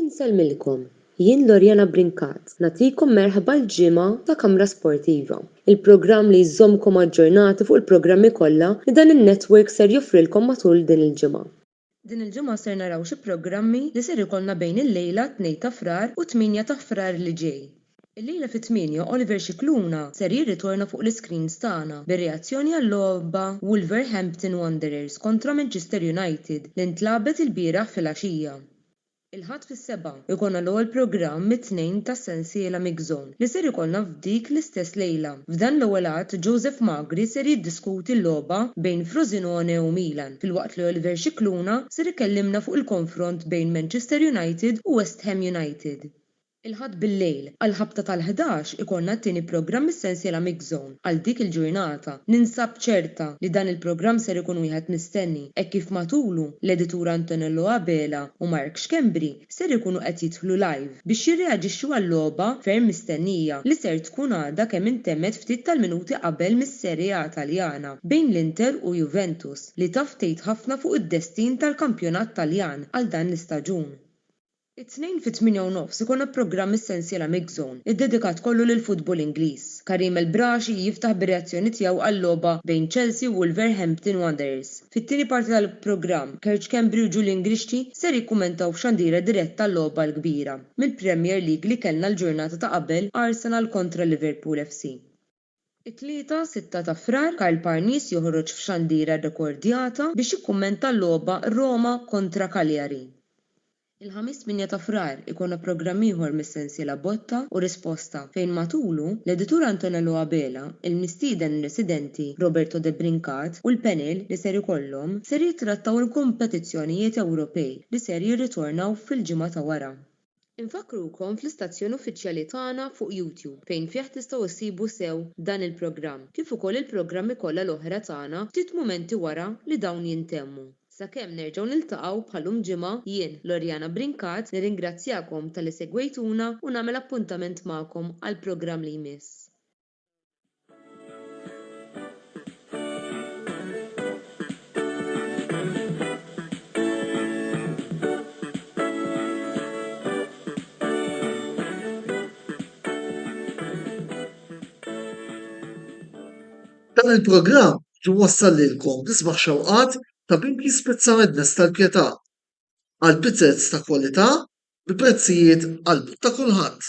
Insellmilkom, jien Loriana Brincat nagħtikom merħba l-ġimgħa ta' Kamra Sportiva, il-programm li jżommkom aġġornati fuq il-programmi kollha li dan in-network ser joffrilkom matul din il-ġimgħa. Din il-ġimgħa ser naraw xi programmi li ser ikollna bejn il-lejla, 2 ta' Frar, u t-tmienja ta' Frar li ġej. Illejla fit-tmienja Oliver Scicluna ser jirritorna fuq l-iscreens tagħna bir-reazzjoni għal-logħba Wolverhampton Wanderers kontra Manchester United li ntlagħbet ilbieraħ filgħaxija. Il-Ħadd fis-sebgħa jkollna l-ewwel programm mit-tnejn tas-sensiela Mix Zone li ser ikollna f'dik l-istess lejla. F'dan l-ewwel għadd Joseph Magri ser jiddiskuti l-logħba bejn Frosinone u Milan filwaqt li Oliver Scicluna ser ikellimna fuq il-konfront bejn Manchester United u West Ham United. Il-Ħadd bil-lejl, għall-ħabta tal-ħdax, ikollna t-tieni programm mis-sensiela Mixzone. Għal dik il-ġurnata, ninsab ċerta li dan il-programm ser ikun wieħed mistenni hekk kif matulu, l-editur Antonello Abela u Mark Schembri ser ikunu qed jidħlu live biex jirreaġixxu għal logħba ferm mistennija li ser tkun għadha kemm intemmet ftit tal-minuti qabel mis-Serie A Taljana bejn l-Inter u Juventus li taf tgħid ħafna fuq id-destin tal-kampjonat Taljan għal dan l-istaġun. It-Tnejn fit-tmienja u nofs ikollna programm mis-sensiela MixZone, iddedikat kollu lill-futbol Ingliż. Karim El Braashi jiftaħ bir-reazzjoni tiegħu għal-logħba bejn Chelsea u Wolverhampton Wanderers. Fit-tieni parti tal-programm, Kerr Schembri u Julian Grixti ser jikkummentaw f'xandira diretta għal-logħba l-kbira mill-Premier League li kellna l-ġurnata ta' qabel Arsenal kontra Liverpool FC. It-Tlieta, 6 ta' Frar, Karl Parnis joħroġ f'xandira rrekordjata biex jikkummenta l-logħba Roma kontra Cagliari. Il-Ħamis, 8 ta' Frar, ikollna programm ieħor mis-sensiela Botta u Risposta fejn matulu, l-editur Antonello Abela, il-mistieden residenti Roberto De Brincat u l-panel li ser ikollhom ser jittrattaw il-kompetizzjonijiet Ewropej li ser jirritornaw fil-ġimgħa ta' wara. Infakkrukom fl-istazzjon uffiċjali tagħna fuq YouTube fejn fih tistgħu ssibu sew dan il-programm kif ukoll il-programmi kollha l-oħra tagħna ftit mumenti wara li dawn jintemmu. Sakemm nerġgħu niltaqgħu bħalum ġimgħa, jien, Loriana Brincat, nirringrazzjakom talli segwejtuna u nagħmel appuntament magħkom għall-programm li jmiss. Dan il-programm jwassal lilkom l-isbaħ xewqat ta' bib jispizza madness tal-pjetà għal pizzez ta' kwalità bi prezzijiet għall-but ta' kulħadd.